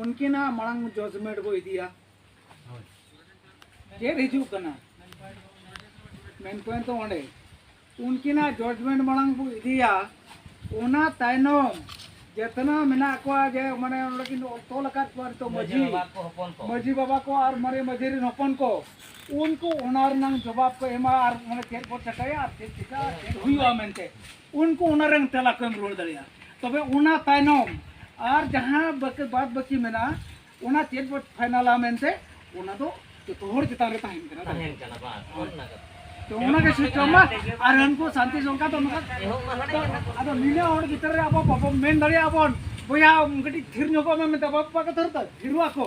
ᱩᱱᱠᱤᱱᱟᱜ ᱢᱟᱲᱟᱝ ᱡᱚᱡᱽᱢᱮᱱᱴ ᱵᱚ ᱤᱫᱤᱭᱟ ᱪᱮᱫ ᱦᱤᱡᱩᱜ ᱠᱟᱱᱟ ᱢᱮᱱ ᱯᱚᱭᱮᱱᱴ ᱫᱚ ᱚᱸᱰᱮ ᱩᱱᱠᱤᱱᱟᱜ ᱡᱚᱡᱽᱢᱮᱱᱴ ᱢᱟᱲᱟᱝ ᱵᱚ ᱤᱫᱤᱭᱟ ᱚᱱᱟ ᱛᱟᱭᱱᱚᱢ ᱡᱮᱛᱱᱟ ᱢᱮᱱᱟᱜ ᱠᱚᱣᱟ ᱡᱮ ᱢᱟᱱᱮ ᱚᱸᱰᱮ ᱠᱤᱱ ᱛᱚᱞ ᱟᱠᱟᱫ ᱠᱚᱣᱟ ᱱᱤᱛᱚᱜ ᱢᱟᱹᱡᱷᱤ ᱢᱟᱹᱡᱷᱤ ᱵᱟᱵᱟ ᱠᱚ ᱟᱨ ᱢᱟᱨᱮ ᱢᱟᱹᱡᱷᱤ ᱨᱮᱱ ᱦᱚᱯᱚᱱ ᱠᱚ ᱩᱱᱠᱩ ᱚᱱᱟ ᱨᱮᱱᱟᱜ ᱡᱚᱵᱟᱵ ᱠᱚ ᱮᱢᱟ ᱟᱨ ᱢᱟᱱᱮ ᱪᱮᱫ ᱵᱚ ᱪᱮᱠᱟᱭᱟ ᱟᱨ ᱪᱮᱫ ᱪᱮᱠᱟ ᱪᱮᱫ ᱦᱩᱭᱩᱜᱼᱟ ᱢᱮᱱᱛᱮ ᱩᱱᱠᱩ ᱚᱱᱟ ᱨᱮᱱ ᱛᱮᱞᱟ ᱠᱚ ᱮᱢ ᱨᱩᱣᱟᱹᱲ ᱫᱟᱲᱮᱭᱟᱜᱼᱟ ᱛᱚᱵᱮ ᱚᱱᱟ ᱛᱟᱭᱱᱚᱢ ᱟᱨ ᱡᱟᱦᱟᱸ ᱵᱟᱹᱠᱤ ᱵᱟᱫ ᱵᱟᱹᱠᱤ ᱢᱮᱱᱟᱜᱼᱟ ᱚᱱᱟ ᱪᱮᱫ ᱵᱚ ᱯᱷᱟᱭᱱᱟᱞᱟ ᱢᱮᱱᱛᱮ ᱚᱱᱟ ᱫᱚ ᱡᱚᱛᱚ ᱦᱚᱲ ᱪᱮᱛᱟᱱ ᱨᱮ ᱛᱟᱦᱮᱱ ᱠᱟᱱᱟ ᱛᱟᱦᱮᱱ ᱠᱟᱱᱟ ᱵᱟᱝ ᱚᱱᱟ ᱠᱟᱛᱷᱟ ᱛᱚ ᱚᱱᱟ ᱜᱮ ᱥᱤᱥᱴᱮᱢ ᱢᱟ ᱟᱨ ᱩᱱᱠᱩ ᱥᱟᱱᱛᱤ ᱥᱚᱝᱠᱟ ᱫᱚ ᱱᱚᱝᱠᱟ ᱟᱫᱚ ᱱᱤᱱᱟᱹ ᱦᱚᱲ ᱵᱷᱤᱛᱨᱤ ᱨᱮ ᱟᱵᱚ ᱵᱟᱵᱚ ᱢᱮᱱ ᱫᱟᱲᱮᱭᱟᱜᱼᱟ ᱵᱚᱱ ᱵᱚᱭᱦᱟ ᱠᱟᱹᱴᱤᱡ ᱛᱷᱤᱨ ᱧᱚᱜᱚᱜ ᱢᱮ ᱢᱮᱛᱟ ᱵᱟᱵᱟ ᱠᱟᱛᱷᱟ ᱨᱮᱫᱚ ᱛᱷᱤᱨᱚᱜ ᱟᱠᱚ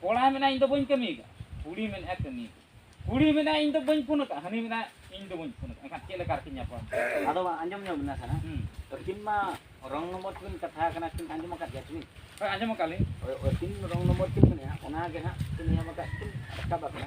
ᱠᱚᱲᱟ ᱢᱮᱱᱟᱭ ᱤᱧ ᱫᱚ ᱵᱟᱹᱧ ᱠᱟᱹᱢᱤ ᱟᱠᱟᱫ ᱠᱩᱲᱤ ᱢᱮᱱᱟᱭ ᱠᱟᱹᱢᱤ ᱠᱩᱲᱤ ᱢᱮᱱᱟᱭ ᱤᱧ ᱫᱚ ᱵᱟᱹᱧ ᱯᱷᱳᱱ ᱟᱠᱟᱫ ᱦᱟᱹᱱᱤ ᱢᱮᱱᱟᱭ ᱤᱧ ᱫᱚ ᱵᱟᱹᱧ ᱯᱷᱳᱱ ᱟᱠᱟᱫ ᱮᱱᱠᱷᱟᱱ ᱪᱮᱫ ᱞᱮᱠᱟ ᱨᱮᱠᱤᱱ ᱧᱟᱯᱟᱢ ᱟᱫᱚ ᱟᱸᱡᱚᱢ ᱧᱚᱜ ᱵᱤᱱᱟ ᱥᱟᱨᱟ ᱟᱹᱠᱤᱱ ᱢᱟ ᱨᱚᱝ ᱱᱚᱢᱵᱚᱨ ᱛᱮᱵᱤᱱ ᱠᱟᱛᱷᱟ ᱟᱠᱟᱱᱟ ᱠᱤᱱ ᱟᱸᱡᱚᱢ ᱟᱠᱟᱫ ᱜᱮᱭᱟ ᱠᱤᱱ ᱦᱳᱭ ᱟᱸᱡᱚᱢ ᱟᱠᱟᱫ ᱞᱤᱧ ᱟᱹᱠᱤᱱ ᱨᱚᱝ ᱱᱚᱢᱵᱚᱨ ᱠᱤᱱ ᱢᱮᱱᱮᱜᱼᱟ ᱚᱱᱟᱜᱮ ᱦᱟᱸᱜ ᱠᱤᱱ ᱧᱟᱢ ᱟᱠᱟᱫ ᱠᱤᱱ ᱨᱟᱠᱟᱵ ᱟᱠᱟᱱᱟ